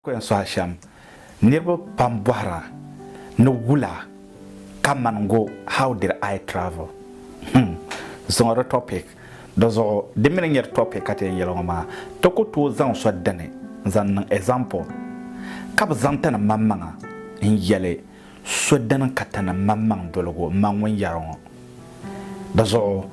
Kɔin soha shɛm niriba pam bɔhira ni wula ka man go how did I travel? Hum, zuŋɔ di topic. Di zuɣu di mi ni nyɛ di topic ka ti yɛn yɛli ŋɔ maa, ti ku tooi zaŋ so dini n-zaŋ niŋ example ka bi zaŋ tani manmaŋa n-yɛli so dini ka ti niŋ maŋmaŋ doligu m ma ŋun yɛri ŋɔ. Di zuɣu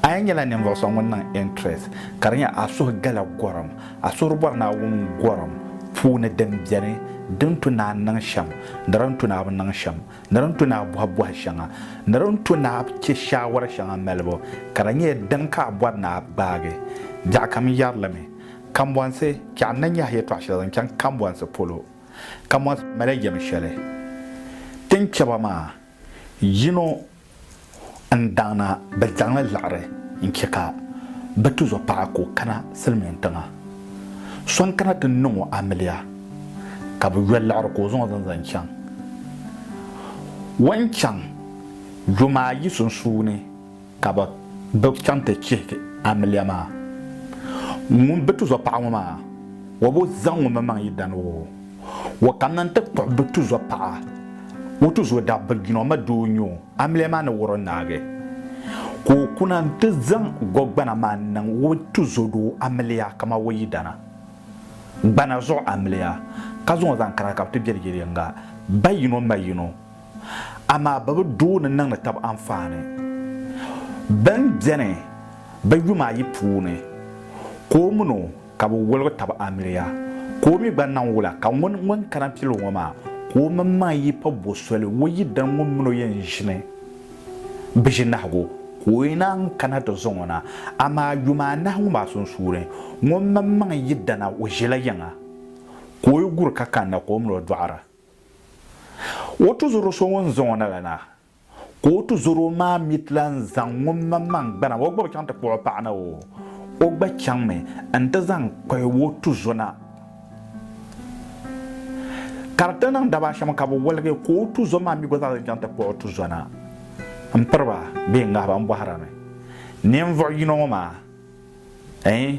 a yi nyɛla ninvuɣ so ŋun niŋ interest ka di nyɛ a suhu gala gɔrim, a suhuri bɔri Naawuni gɔrim puuni din beni, din tu ni a niŋ shɛm ni din tu ni a bi niŋ shɛm, ni din tu ni a bɔhi bɔhi shɛŋa ni din tu ni a chɛ shaawara shɛŋa malibu, ka di nyɛ din ka a bɔri ni a gbaagi biɛɣukam yɛrilimi. Kambɔnsi, chɛ a ni nyɛhi yɛtɔɣ shɛli zaŋ chaŋ kambɔnsi polo. Ka mɔri mali yɛm shɛli tin chɛ ba maa, yino n-daŋna bɛ zaŋ li liɣiri n-chɛ ka bɛ tizɔ paɣa ka o kana silimiin tiŋa. So n-kana ti niŋ o amiliya, ka bɛ yoli liɣiri ka o zaŋ o zani zaŋ chaŋ. O ni chaŋ yoma ayi sunsuuni. Ka bɛ bi chaŋ ti chihigi amiliya maa. Ŋun bi tizɔ paɣa ŋɔ maa, o bi zaŋ o maŋmaŋ yi dan o. O kanna nti kpuɣi bi tizɔ paɣa. O tizɔ daa bi jin o ma di o nyo amiliya maa ni wari o naagi. Ka o kuna nti zaŋ gɔgbana maa niŋ o tizɔ doo amiliya kaman o yidana gbana zuɣu amiliya, ka zaŋ o zaŋ kana ka bɛ ti beri yili yiŋga, ba yino ma yino. amaa bɛ bi doo ni niŋdi tab anfaani. Bɛn beni bɛ yuma ayi puuni, ka o min o ka bɛ woligi tab amiliya, ka o mi gba niŋ wula ka ŋun ŋun kana pil o ŋɔ maa, ka o minimaŋ yi pa bo soli o yidana ŋun min o yɛn ʒini biʒinahigu, ka o yi naan kana ti zaŋ o na, amaa yuma anahi ŋɔ maa sunsuuni, ŋun minimaŋ yidana o ʒila yiŋa, ka o yi guri ka kanna ka o min o dɔɣira. O tuzur o so ŋun zaŋ o na la na, ka o tuzur o maa mi ti lan zaŋ ŋun maŋmaŋ gbana o gbibu chaŋ ti kpuɣ o paɣa na o. O gba chaŋmi nti zaŋ kpahi o tuzo na. Ka di ti niŋ daba shɛm ka bɛ woligi, ka o tuzo maa mi gba zaa zaŋ chaŋ ti kpuɣ o tuzo na. M piriba bee n gahiba, m bɔhirimi, ninvuɣ yino ŋɔ maa Ɛɛn,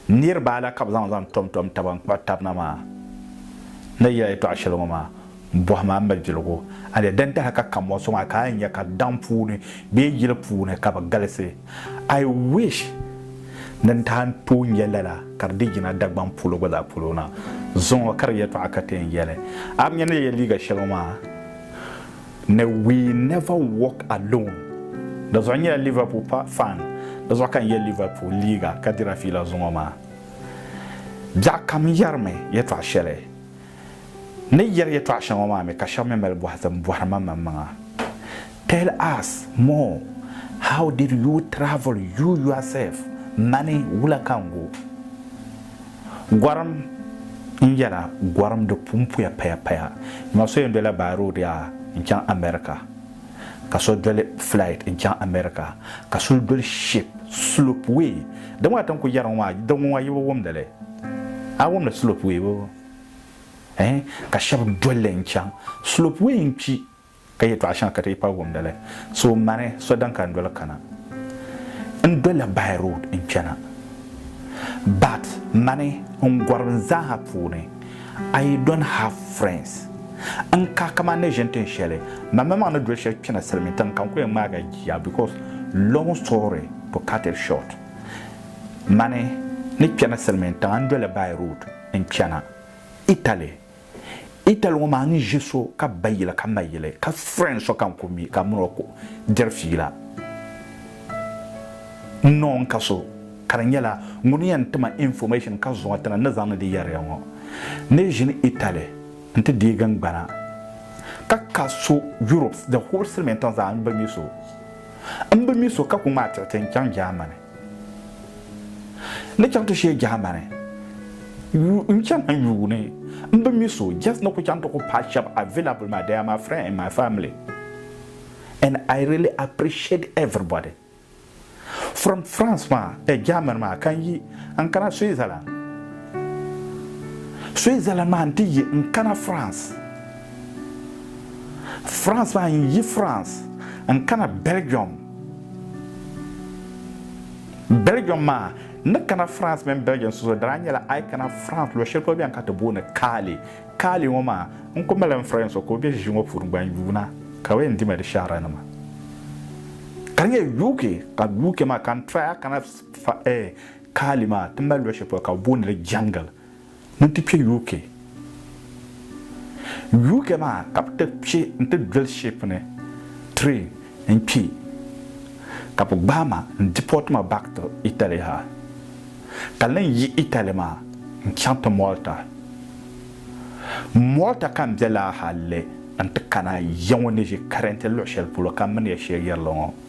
niriba ala ka bɛ zaŋ zaŋ tɔmtɔm taba n-kpuɣi tab na maa? Ni yɛla yɛtɔɣ shɛli ŋɔ maa, bɔhi ma m malibiligu, a ni dan tahi ka kammɔɣu sɔŋ a ka a ni nya ka daŋ puuni bee yili puuni ka bɛ galisi. I wish ni n tahi n-tooi nya lala ka di di yina Dagbaŋ polo gba zaa polo na. Zuŋɔ ka di yɛtɔɣa ka ti yɛn yɛli a mi nya ni ya yɛli liiga shɛli ŋɔ maa. ni We Never Walk Alone. Dazuɣu nyɛla Liverpool pa fan. Dazuɣu ka n ye Liverpool liiga ka dira fiila zuŋɔ maa. Biɛɣu kam yɛrimi yɛtɔɣ shɛli. N ni yɛri yɛtɔɣ shɛŋa maa mi ka shɛba mi mali bɔhi zim bɔhiri ma maŋmaŋa. Tell us more, how did you travel you yourself, mani wula ka n go? Gɔrim n yɛla gɔrim di pun puya paya paya. N ma so yɛn dola by road yaa n chaŋ America ka so doli flight n chaŋ America ka suli doli ship slope way di ŋɔ na tin ku yɛri ŋɔ maa di ŋɔ yibi wumdili a wumdi slope way boo eeh ka shɛb doli li n chaŋ slope way n kpi Ka yɛtɔɣ shɛŋa ka ti yi paai wumdi li. So mani so din ka n doli kana. N dolila by road n-chana. But mani n gɔriba n zaaha puuni I don't have friends. N ka kaman ni ʒini tin shɛli mamaŋmaŋ ni doli shɛli kpɛna silimiintiŋ ka n ku yɛn ŋmaag a jia because long story to cut it short mani ni kpɛna silimiintiŋa n dolila by road n-chana Italy. Itali ŋɔ maa ni ʒe so ka ba yili ka ma yili ka friend so ka n ku mi ka min o ku diri fiila n ni o ni ka so ka di nyɛla ŋuni yɛn ti ma information ka zuŋɔ ti ni ni zaŋdi di yɛri ya ŋɔ ni ʒini Itali n ti deegi n gbana ka ka so Europe the whole silimiin tiŋ zaa n bi mi so n bi mi so ka ku ŋmaai tiɣiti n chaŋ Germany. Ni chaŋ ti shee Germany n chana n yuuni m bi mi so just ni ku chaŋ ti ku paai shɛba available maa they are my friend and my family and I really appreciate everybody from France maa eh Germany maa ka n yi n kana Switzerland Switzerland maa n ti yi n kana France France maa n yi France n kana Belgium Belgium maa ni kana France mini Belgium so so daa nyɛla a yi kana France luɣ shɛli polo bɛn ka ti booni Kaali. Kaali ŋɔ maa n ku mali n friend so ka o be ʒiʒi ŋɔ puuni gba n-yuuna ka bɛ yɛn dimi di shɛhirannima ka di nyɛ UK ka UK maa ka n try a kana Kaali maa ti mali luɣ shɛli polo ka bɛ booni li Jungle. ni ti kpe UK. UK maa ka bɛ ti kpe nti doli ship ni train n-kpe ka bɛ gbaai ma n-deport ma back to Italy ha ka lan yi Italy maa n-chaŋ ti Malta. Malta ka m-be laa hali n-ti kana ya ŋɔ ni ʒi currently luɣ'shɛli polo ka m mini ya shɛl yɛrila ŋɔ.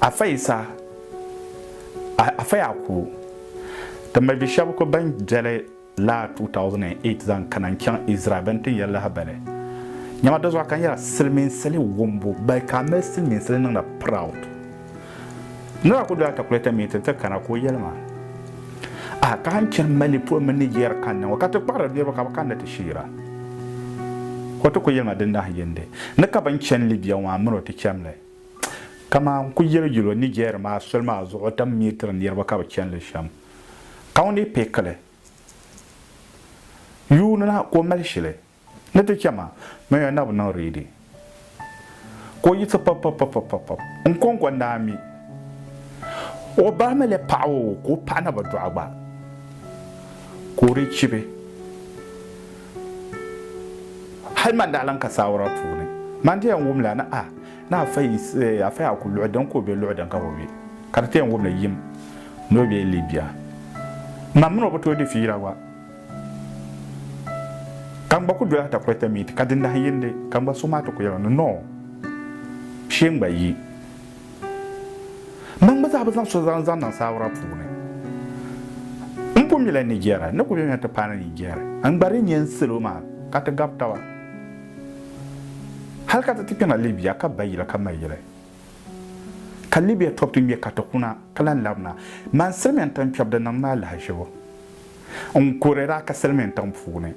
Afa Yisa, Afa Yakubu, ti malibi shɛba ku bɛn beli laa 2008 zaŋ kana n-chaŋ Izraɛl bɛ ni tin yɛli lahibali nyama di zuɣu ka n yɛra silimiinsili wumbu bali ka a mali silimiinsili niŋda proud. Nira ku do atakulɛta miiti nti kana ka o yɛli ma. A ka a ni chani Mali polo mini Niger kani ŋɔ ka ti kpahiri niriba ka bɛ kanna ti sheera? O ti ku yeli ma din nahi yindi ni ka bɛn chani Libya ŋɔ a mini o ti chani li. Kaman n ku yeli yuli o Niger maa soli maa zuɣu o tam mi tiri niriba ka bɛ chani li shem. Ka o ni pekili yuuni na ka o mali shili. Ni ti chɛ ma, ma yɛn na bi niŋ ready. Ka o yiɣisi pɔpɔpɔpɔpɔpɔp n-kɔŋko n-daa mi. O ba mi lee paɣi o ka o paɣi naba dɔɣi gba, ka o dii chibi. Hali man daa lan ka saawara puuni, man ti yɛn wumla ni ah, ni afa yi eh, afa yaa ku luɣi din ka o be luɣi din ka bi be. Ka di ti yɛn wumli yim ni o be Libya. Man mini o bi tooi di fiila gba. Ka n gba ku doli atakulɛta miiti ka di nahi yindi, ka n gba suhu maa ti ku yɛli ni, Noo, shee n gba yi. Man gba zaa bi zaŋ so zaŋ zaŋ niŋ saawura puuni. M pun mila Nigeria, n ni ku be nya ti paai ni Nigeria. N gba di nya n salo maa ka ti gab taba. Hal ka ti ti kpɛna Libya ka ba yili ka ma yili. Ka Libya tɔbu ti ŋme ka ti kuna, ka lan labina. Man silimiya n-tan kpɛb di niŋ ma alahichibo. n kuri daa ka silimiin tiŋ puuni.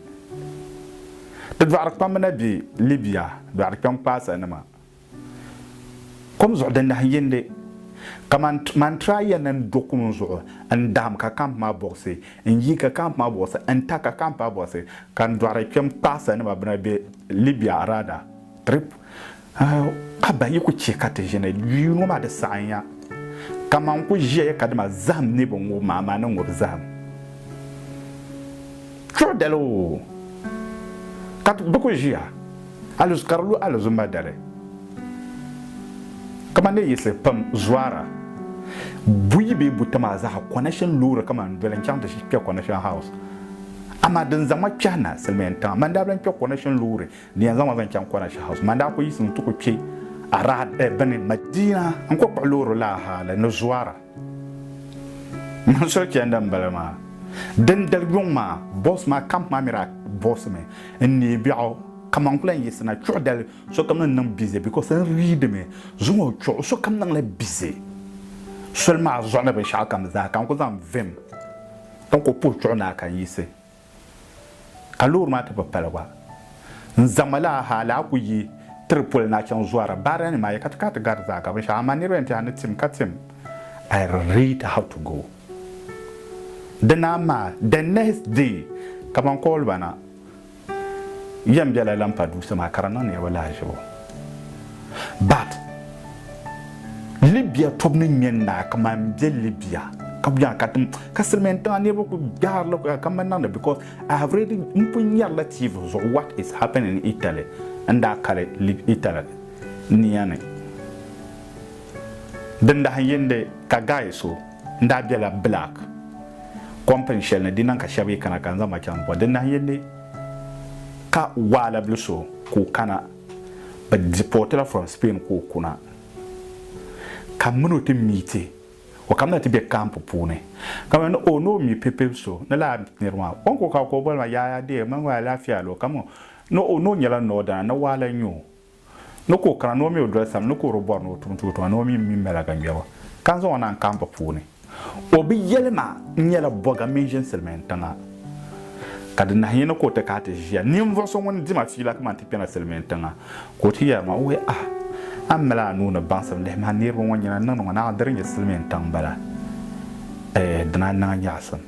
Di dɔɣiri kpambu na be Libya dɔɣiri kpɛŋ kpaasa nima kom zuɣu di nahi yindi kaman mantra ya ni n do kum zuɣu n dahim ka camp maa buɣisi n yi ka camp maa buɣisi n ta ka camp maa buɣisi ka n dɔɣiri kpɛm kpaasa nima bina be Libya rather trip Ka ban yi ku chɛ ka ti ʒini yuun ŋɔ maa di saɣim ya, kaman n ku ʒiɛya kadama zahim ni bi ŋub ma, amaa ni ŋub zahim chuɣu dali oo, ka bi ku ʒiya alizuma ka di lu alizuma dali. Kaman ni yiɣisi pam zɔra buyi bee buta maa zaa ha, Coronation loori ka man doli n-chaŋ ti kpe Coronation House, amaa din zaŋ ma kpɛhi na, Silimiintiŋa, man daa bi lan kpe Coronation loori Di yɛn zaŋ ma zaŋ chaŋ Quraysh House. Man daa ku yiɣisiŋ nti ku kpe Arad bini Madina n-ku kpuɣi loori laa hali ni Zuara. Man so chani din bala maa. Dindali yuŋ maa, bus maa camp maa mi daa buɣisimi n-neei biɛɣu ka man ku lan yiɣisina chuɣu dali sokam ni niŋ busy because n readimi zuŋɔ o chuɣu sokam niŋla busy soli maa zuɣu ni binshɛɣukam zaa ka n ku zaŋ vim ka n ku puhi chuɣu naa ka n yiɣisi. Ka loori maa ti bi pali gba, n zaŋ ma laa ha laa ku yi tiri poli na chaŋ zuara baara nima ayi ka ti kana ti gari zaa ka binshɛɣu amaa niriba yɛn tɛha ni tim ka tim I read how to go dina amaa the next day ka ban call ba na yɛn bela Lampa Dusa maa ka di niŋ niriba lahaʒibu. But Libya tobu ni ŋmɛ naa ka man be Libya ka bɛ ka tim ka silimiin tiŋa niriba ku gbaari la ka man niŋda because I have already n pun nyari la TV zuɣu what is happening in Italy n daa kali Italy nia ni din dahin yindi ka guy so n daa bela black company shɛli ni di niŋ ka shɛba yi kana ka n zaŋ ba chaŋ bɔ din dahin yindi Ka waala bili so ka o kana, bɛ deportila from Spain ka o kuna. Ka mini o ti meeti, o kamina ti be camp puuni. Ka mani o ni o mi pipil so, ni laa nir maa, o ni ku ka o ka o boli ma, Yaya dear, mani gba alaafia lo, ka mani o ni o nyɛla northerner, ni waala n-nyɛ o. ni ka o kana ni o mi o doli sani ni ka o di bɔri ni o tum tuutuŋa ni o mi mini mɛla ka ŋmɛbu ka n zaŋ o na n kaamba puuni. O bi yɛli ma n nyɛla bɔga mini ʒini silimin tiŋa ka di nahi yini ka o ti kaai ti ʒiya ninvuɣu so ŋun dima fiila ka man ti kpɛna silimin tiŋa ka o ti yɛli ma o wee ah a ni mali a nuu ni baŋsim lihi ma niriba ŋɔ nyina n niŋdi ŋɔ naɣa di di nyɛ silimin tiŋ bala eeh dina n niŋ a nyaɣisim.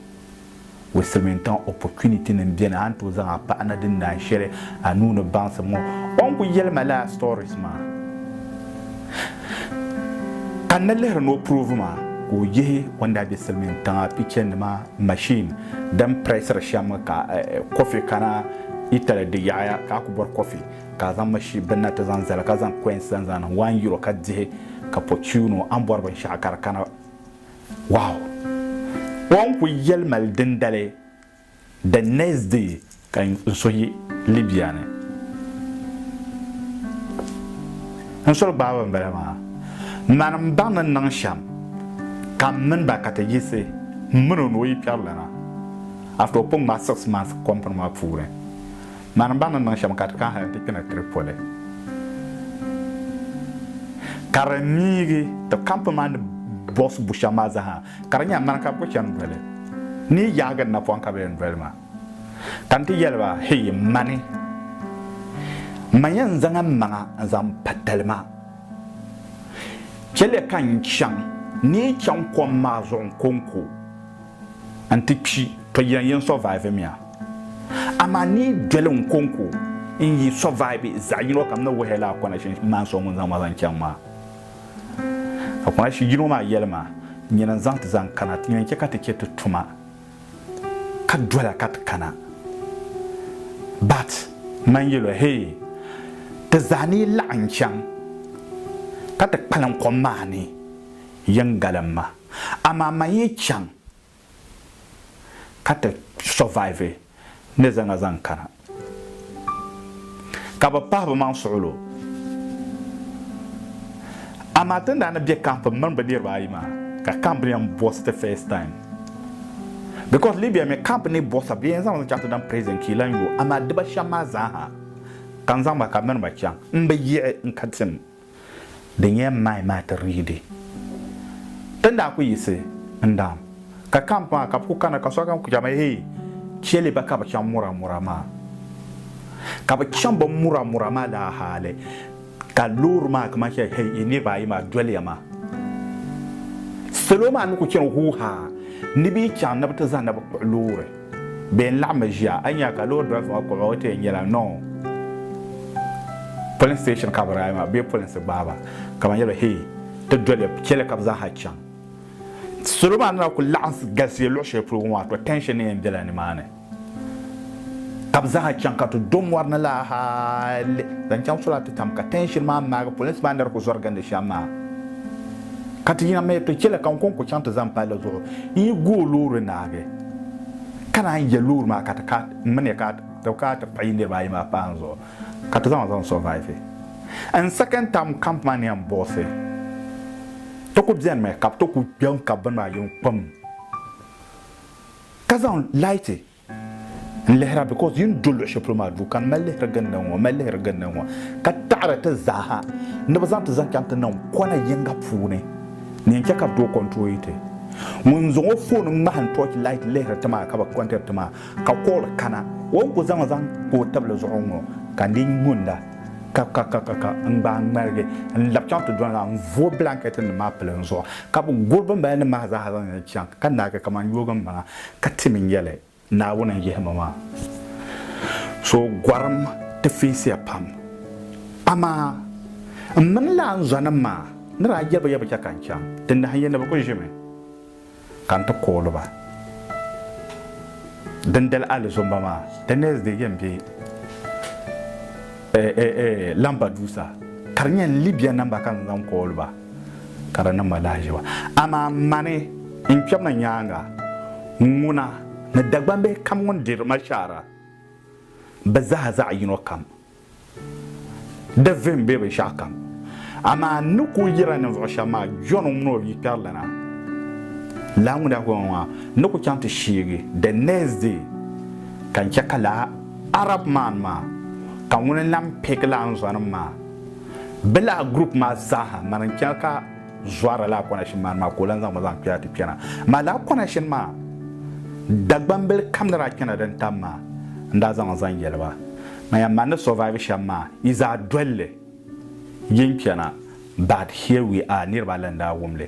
with Silimiintiŋa opportunity nim beni a ni tooi zaŋ a paɣa na din naan shɛli a nuu ni baŋsim ŋɔ o ni ku yɛli ma laa stories maa ka n ni lihiri ni o prove ma ka o yihi o ni daa be Silimiintiŋa picture nima machine din pressiri shɛm ka coffee kana Italy di yaɣaya ka a ku bɔri coffee ka a zaŋ machine binna ti zaŋ zali ka zaŋ coins zaŋ zaŋ niŋ one euro ka dihi ka po tune o a ni bɔri binshɛɣu ka di kana Wow! O ni kuli yɛli mali dindali the next day ka n suhi Libya ni n soli gbaaba n bala maa. Mani m baŋ ni niŋ shɛm ka m mini ba ka ti yiɣisi m mini o ni o yi kpɛrilana after o pun ŋmaai six months company maa puuni. Mani ba ni niŋ shɛm ka ti kahi n-ti kpi ni Tripoli, ka di niigi ti kampi maa ni bɔɣisi bu shɛm maa zaha, ka di nyɛla mani ka bɛ ku chani doli ni yi yahigi n napɔŋ ka bɛ yɛn doli ma. Ka n ti yɛli ba, Hii, mani, man yɛn zaŋ m maŋa n-zaŋ pa tali maa. Chɛliya ka n chaŋ ni yi chaŋ kom maa zuɣu n-ko n-ko. n ti kpi to yen yen survive miya amaa ni yi doli n konko n yi survive zaɣi yino kam ni wuhi lala kona shin maa so ŋun zaŋ ma zaŋ chaŋ maa ka kona shi yino maa yeli ma nyini n zaŋ ti zaŋ kana ti yen che ka ti che ti tuma ka dola ka ti kana but man yelo hee ti zaa ni yi laɣim chaŋ ka ti kpalim kom maa ni yen galim ma. Amaa man yi chaŋ ka ti survive ni zaŋa zaŋ kana ka bi pahi bi maŋ suɣulo. Amaa ti ni daa ni be camp mini bi niriba ayi maa ka camp ni yɛn boss ti first time because Libya mi camp ni boss bɛ yɛn zaŋmi chaŋ ti daŋ prison ka yi lan yo amaa diba shɛm maa zaa ha ka n zaŋ ba ka mini ba chaŋ n bi yiɣi n ka tim. Di nyɛla m mind maa ti riidi. Ti ni daa kuli yiɣisi n-daam ka camp maa ka bɛ kuli kana ka sokam kuli chaŋmi hee cheli ba ka bɛ chaŋ Muramura maa. Ka bɛ chaŋ bɛ Muramura maa laa hali ka loori maa kaman sheli hee yi niriba ayi maa doliya maa. Salo maa ni kuli chani huu haa ni bɛ yi chaŋ ni bɛ ti zani ni bɛ kpuɣi loori. Bɛ n laɣimmi ʒiya a yi nya ka loori driver maa kpuɣi ba o ti yɛn nyɛla noo polin station ka bɛ daa maa bee polinsi gbaai ba ka ban yɛliba hee ti doli chɛli ka bɛ zaaha chaŋ salo maa ni na kuli laɣim galisiya luɣi shɛli polo ŋɔ maa to tension ni yɛn bela ni maa ni ka bɛ zaaha chaŋ ka ti do mɔri ni la hali zaŋ chaŋ sola ti tam ka tension maa maagi polinsi maa ni di kuli zɔri gindi shɛm maa ka ti yina mi to chɛli ka n ko n kuli chaŋ ti zani palli zuɣu n yi gu o loori naagi Ka naan je loori maa ka ti ka n mi ni ka ti ka ti kpa yi niriba ayi maa pahi n zuɣu ka ti zaŋ zaŋ survive n second term camp maa ni yɛn buɣisi ti ku beni mi ka bɛ ti ku kpe n kabi bini maa yiŋ kpam ka zaŋ light n lihira because yi ni do luɣi shɛli polo maa duu ka n mali lihiri gindi n ŋɔ mali lihiri gindi n ŋɔ ka taɣiri ti zaa ha ni bɛ zaŋ ti zaŋ chaŋ ti niŋ kɔna yiŋga puuni. Ni yɛn chɛ ka bɛ tooi kɔnturooli ti. Ŋun n-zaŋ o foon ŋmahim tɔɔchi laati lihiri ti maa ka bɛ kɔntiri ti maa, ka kooli kana. O ni ku zaŋ zaŋ o tibili zuɣu ŋ-ŋɔ ka n dii nyunda ka ka ka ka ka n gbaai ŋmaligi n-lab chaŋ ti dɔni la n-vooi bilankɛtinim maa pili n zuɣu ka bɛ guri bimbalinim maa zaa ha zaŋ li chaŋ ka naagi kaman yoogi m-maŋa ka tim n-yɛli, Naawuni n-yihi ma maa. So gɔrim ti fiisiya pam. Amaa m mini laanzɔnim maa ni daa jɛli ba ya bi chɛ ka n chaŋ, di nahin ya ni bɛ kul ʒimi ka n ti kooli ba. Dindali alizomba maa, the next day yɛn be Lampedusa, ka di nyɛ Libya namba ka n zaŋ kooli ba. ka di niŋ ma lahaʒiba. Amaa mani n kpɛbu na nyaaŋa, ŋuna ni Dagbambihi kam ŋun diri ma shɛhira, bɛ zaa zaɣ yino kam di vihim bee binshɛɣu kam. Amaa n ni ku yiri a ninvuɣ shɛba maa, Jɔn ŋun mini o bia kpɛri lana, laa ŋun daa ku ma maa, n ni ku chaŋ ti sheegi the next day, ka n chɛ ka laa Arab man maa, ka ŋuni n-lan pihigi laa n zɔnim maa. Bɛ lahi group maa zaaha mani n-chana ka zɔrila laa kɔna shini maani maa ka o lan zaŋ ma zaŋ kpɛra ti kpɛna. Amaa laa kɔna shini maa Dagbambili kam ni daa chana din tam maa n-daa zaŋ n zaŋ yɛli ba. Man yan man ni survive shɛm maa yi zaa dol li yi n-kpɛna but here we are niriba ayi lan daa wum li.